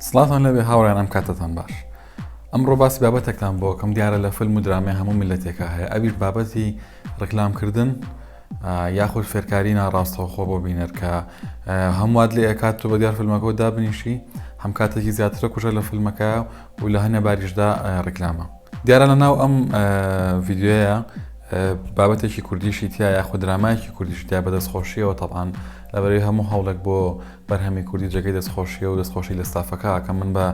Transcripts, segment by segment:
سڵاوتان لێبێ هاوڕێیانم کاتتان باش ئەمڕۆ باسی بابەتێکتان بۆکەم دیارە لە فلم و درامێ هەموو ملەتێکە هەیە ئەویش بابەتی ڕکلام کردن یاخود فێرکاری ناڕاستەوخۆ بۆ بینەر کە هەمووات لێ ئەکات تۆ بە دیار فلمەکەەوە دابنیشی هەم کاتێکی زیاترە کوژە لە فلمەکە و لە هەنێ باریشدا ڕکلامە دیارە لە ناو ئەم ڤیددیوەیە بابەتێکی کوردیشی تیا یاخود درامایکی کوردیشتیا بەدەست خۆشیەوە تەبان لەبەری هەموو هەوڵێک بۆ بەرهەمی کوردی جێگەی دەستخۆشیە و دەستخۆشی لە ستافەکە ئەکەم من بە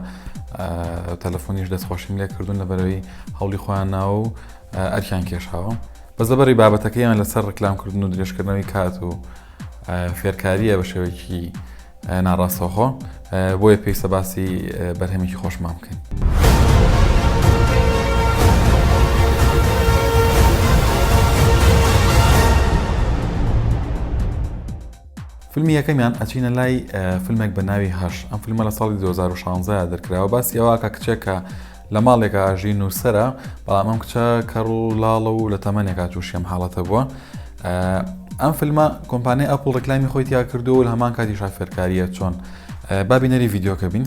تەلەفۆنیش دەستخۆشیم لێ کردوون لەبەرەوەی هەوڵی خۆیان ناوە و ئەرکیان کێشاوە بەس لەبەری بابەتەکەیان لەسەر ڕکلامکردن و درێژکردنەوەی کات و فێرکاریە بە شێوەیەکی ناڕاستەوخۆ بۆیە پێویستە باسی بەرهەمێکی خۆشمان بکەین. فیلمی یەکەمیان ئەچینە لای فیلمێک بە ناوی هەش ئەم فیلمە لە ساڵی 2016 دەرکراوە باسی ئەوواکە کچێکە لە ماڵێکە ئاژی نووسرە بەڵام ئەم کچە کەڕ و لاڵە و لە تەمەنێکا تووشیم حاڵەتە بووە ئەم فیلمە کۆمپانیای ئەپڵ ڕکلامی خۆی تیا کردو و هەمان کاتی شافێرکاریە چۆن بابینەری یددیوکە بین.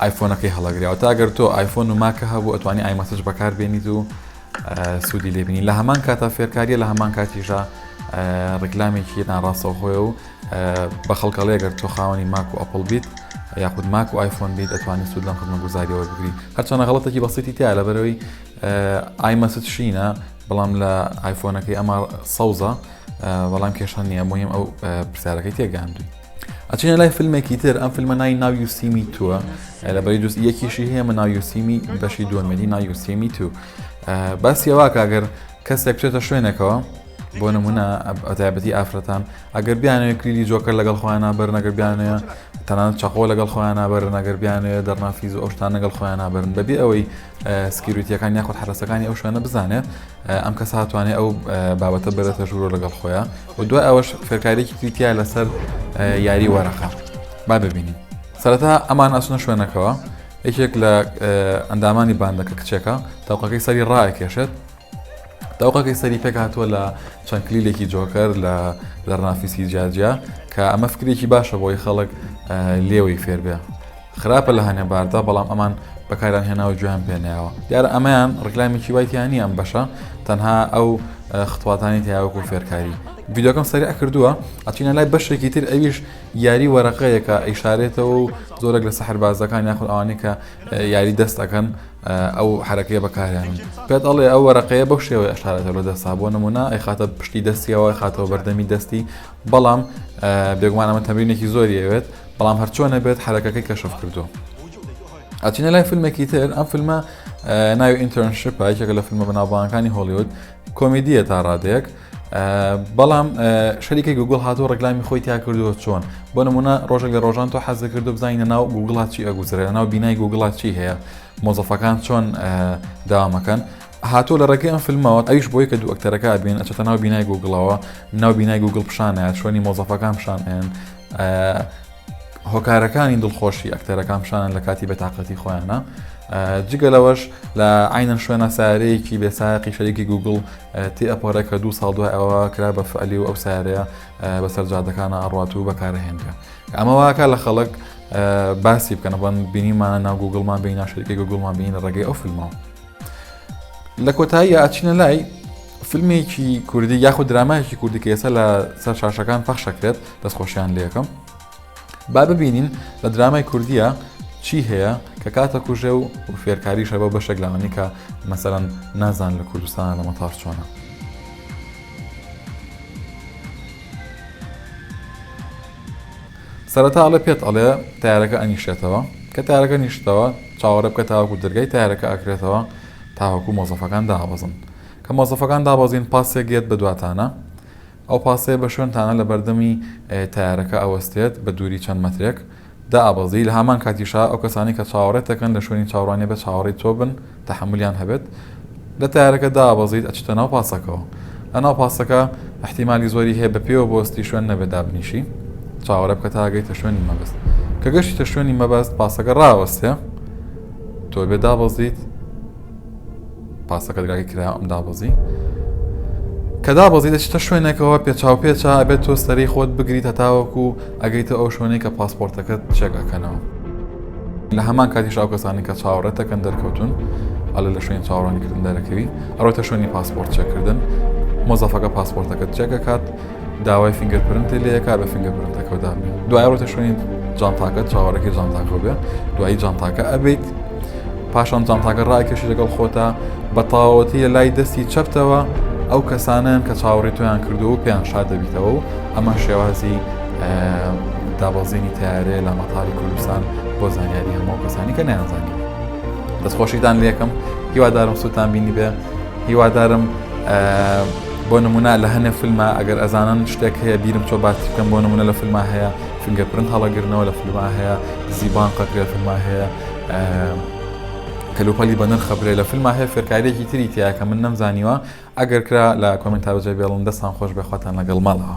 ئایفۆنەکەی هەڵەگری واتە ئەگەر تۆ ئایفۆن و ماکە هەبوو ئەتوانی ئایمەسج بەکار بێنیت و سوودی لێبینی لە هەمان کاتا فێرکاریە لە هەمان کاتیشە ڕیکلامێکی ناڕاستەوە هۆێ و بە خەڵکەڵێ گەر تۆ خاوەنی ماک و ئەپل بیت یاخود ماک و ئایفۆن بیت ئەتوانی سوود لەم خزمە گوزاریەوە بگری هەرچەنە غڵەتێکی بەسیتی تیا لە بەرەوەی ئایمەسج شینە بەڵام لە ئایفۆنەکەی ئەمە سەوزە بەڵام کێشان نییە مهم ئەو پرسیارەکەی تێگەاندوی ئەچینە لای فیلمێکی تر ئەم فیلمە نای ناو یوسیمی تووە لە بەری دوست یەکیشی هەیە من ناویوسیمی بەشی دووەمەدی ناویوسیمی تو بەس یەواکە ئەگەر کەسێک بچێتە شوێنێکەوە بۆ نمونە ئەتابەتی ئافرەتان ئەگەر بیانەوە کلیلی جۆکە لەگەڵ خۆیانە بەر نەگەر بیانە تەنان چەقۆ لەگەڵ خۆیانە بەر نەگەر بیانە دەرنافیز ئەوشتان لەگەڵ خۆیانە بەرن بەبێ ئەوەی سکیوریتیەکان یاخود حرسەکانی ئەو شوێنە بزانێت ئەم کەسە هاتوانێ ئەو بابەتە بەرەتە ژوورۆ لەگەڵ خۆیە و دوای ئەوەش فێرکاریێکی تریتیا لەسەر یاری وەرەقە با ببینین سەرەتا ئەمان ئەسنە شوێنەکەەوە یەکێک لە ئەندامانی باندەکە کچێکە تاوقەکەی سەری ڕایکێشێت داوقەکەی سەری پێک هاتووە لە چەند کلیلێکی جۆکەر لە لەرنافیسی جاجیا کە ئەمە فکرێکی باشە بۆی خەڵک لێوەی فێربێ خراپە لە هەنێ باردا بەڵام ئەمان بەکاریان هێناوە گوێیان پێ نەیاوە دیارە ئەمەیان ڕیکلامێکی وای تیا نییە ئەم بەشە تەنها ئەو خطواتانی تیا وەکو فێرکاری ڤیدیۆکەم سەریع کردووە ئەچینە لای بەشێکی تر ئەویش یاری وەرەقەیەکە ئیشارێتەوە و زۆرەک لە سەحربازەکان یاخود ئەوانی کە یاری دەست ئەەکەن ئەو حرەکەیە بەکاریان پێت ئەڵێ ئەو وەرەقەیە بەو شێوەی ئەشارێتە لە دەستا بۆ نمونە ئەیخاتە پشتی دەستیەوە خاتەوە بەردەمی دەستی بەڵام بێگومان ئەمە تەمرینێکی زۆری ئەوێت بەڵام هەرچۆنە بێت حرەکەکەی کەشف کردو ئەچینە لای فیلمێکی تر ئەم فیلمە ناوی ئینتەرنشپ پایکێکە لە فیلمە بەناوبانەکانی هۆلیود کۆمیدیە تا ڕادێک بەڵام شەریکی گوگل هاتوو ڕگلامی خۆی تیا کردووە چۆن بۆ نمونە ڕۆژێک لە ڕۆژان تۆ حەز کردو بزانینە ناو گوگڵات چی ئەگوزرێ ناو بینای گوگڵات چی هەیە مۆزەفەکان چۆن داوامەکەن هاتووە لە ڕێگەی ئەم فلمەوە ئەویش بۆی کە دوو ئەکتەرەکە بین ئەچێتە ناو بینای گوگڵەوە ناو بینای گوگڵ پیشانە شوێنی مۆزەفەکان پیشانێن هۆکارەکانی دڵخۆشی ئەکتەرەکان پیشانن لە کاتی بەتاقەتی خۆیانە جگە لەوەش لە عینەن شوێنە سارەیەکی بێساقی شەریکی گوگل تی ئەپۆرە کە دوو ساڵ دوای ئەوە کرا بە فعلی و ئەو سارەیە بەسەر جادەکانە ئەڕات و بەکارهێنرا ئەمە واکە لە خەڵک باسی بکەنە بەن بینیمانە ناو گوگلمان بیناشەرکی گوگلمان بینە ڕێگەی ئەو فیلمەوە لە کۆتایی ئاچینە لای فیلمێکی کوردی یاخود درامایکی کوردی کە ئێستا لە سەر شاشەکان پەخشەکرێت دەستخۆشیان لەکەم با ببینین لە درامای کوردیە چی هەیە کە کاتە کوژێ و فێرکاریشە بە بەشێک لەوانی کە مەسەرەن نازان لە کوردستان لە مەتار چۆنە سەرەتا ئەڵێ پێت ئەڵێ تەیارەکە ئەنیشێتەوە کە تەیارەکە نیشتەوە چاوەڕێ بکە تاوەکو دەرگای تەیارەکە ئەکرێتەوە تاوەکو مۆزەفەکان دابەزن کە مۆزەفەکان دابەزین پاسێک یەت بە دواتانە ئەو پاسەیە بە شوێنتانە لە بەردەمی تەیارەکە ئەوەستێت بە دووری چەند مەترێک دابەزی لە هەمان کاتیشا ئەو کەسانی کە چاوەڕێتەکەن لە شوێنی چاوڕانیە بە چاوەڕی تۆ بن تەحەمولیان هەبێت لە تەیارەکە دابەزیت ئەچیتە ناو پاسەکەوە لە ناو پاسەکە احتیمالی زۆری هەیە بە پێوە بۆستی شوێن نەبێت دابنیشی چاوەرە بکە تاگەیتە شوێنی مەبەست کە گەشتە شوێنی مەبەست پاسەکە ڕاوەستێ تۆ بێ دابەزیت پاسەکە دراگە کرا ئەم دابەزی کە دابەزی دەچتە شوێنێکەوە پێچاو پێچا ئەبێت تۆ سەری خۆت بگریت هەتاوەکو ئەگەیتە ئەو شوێنەی کە پاسپۆرتەکەت چێکەکەنەوە لە هەمان کاتیش ئەو کەسانەی کە چاوەڕێت دەکەن دەرکەوتون ئەلە لە شوێنی چاوەڕوانیکردن دەرەکەوی ئەوەتە شوێنی پاسپۆرت چێکردن مۆزەفەکە پاسپۆرتەکەت چێکەکات داوای فینگەر پرنتی لەیەکا بە فینگە پرنتەکەدا دوای ڕۆتە شوێنی جانتاکە چاوەڕێکی جانتاکە بێ دوایی جانتاکە ئەبیت پاشان جانتاکە ڕایکەشی لەگەڵ خۆتا بە تاوەتی لە لای دەستی چەپتەوە ئەو کەسانیان کە چاوەڕی تۆیان کردو و پێیان شادەبیتەوە و ئەمە شێوازی دابەزینی تارێ لە مەتاری کوردستان بۆ زانیاری هەموو کەسانی کە نیانزانانی دەستخۆشیتان لەکەم هیوادارم سووتان بینی بێ هیوادارم بۆ نمونە لە هەنێ فیلمە ئەگەر ئەزانن شتێک هەیە بیرم چۆ باس بکەم بۆ نمونە لە فیلمە هەیە فنگە پرند هەڵەگرنەوە لە فیلمە هەیە زیبان قەکرێ فیلمە هەیە کەلوپەلی بە نرخە برێ لە فیلمە هەیە فێرکاریێکی تری تیا کە من نەمزانیوە ئەگەر کرا لە کۆمێنتا بەجێ بێڵن دەستان خۆش بێ خواتان لەگەڵ ماڵەوە.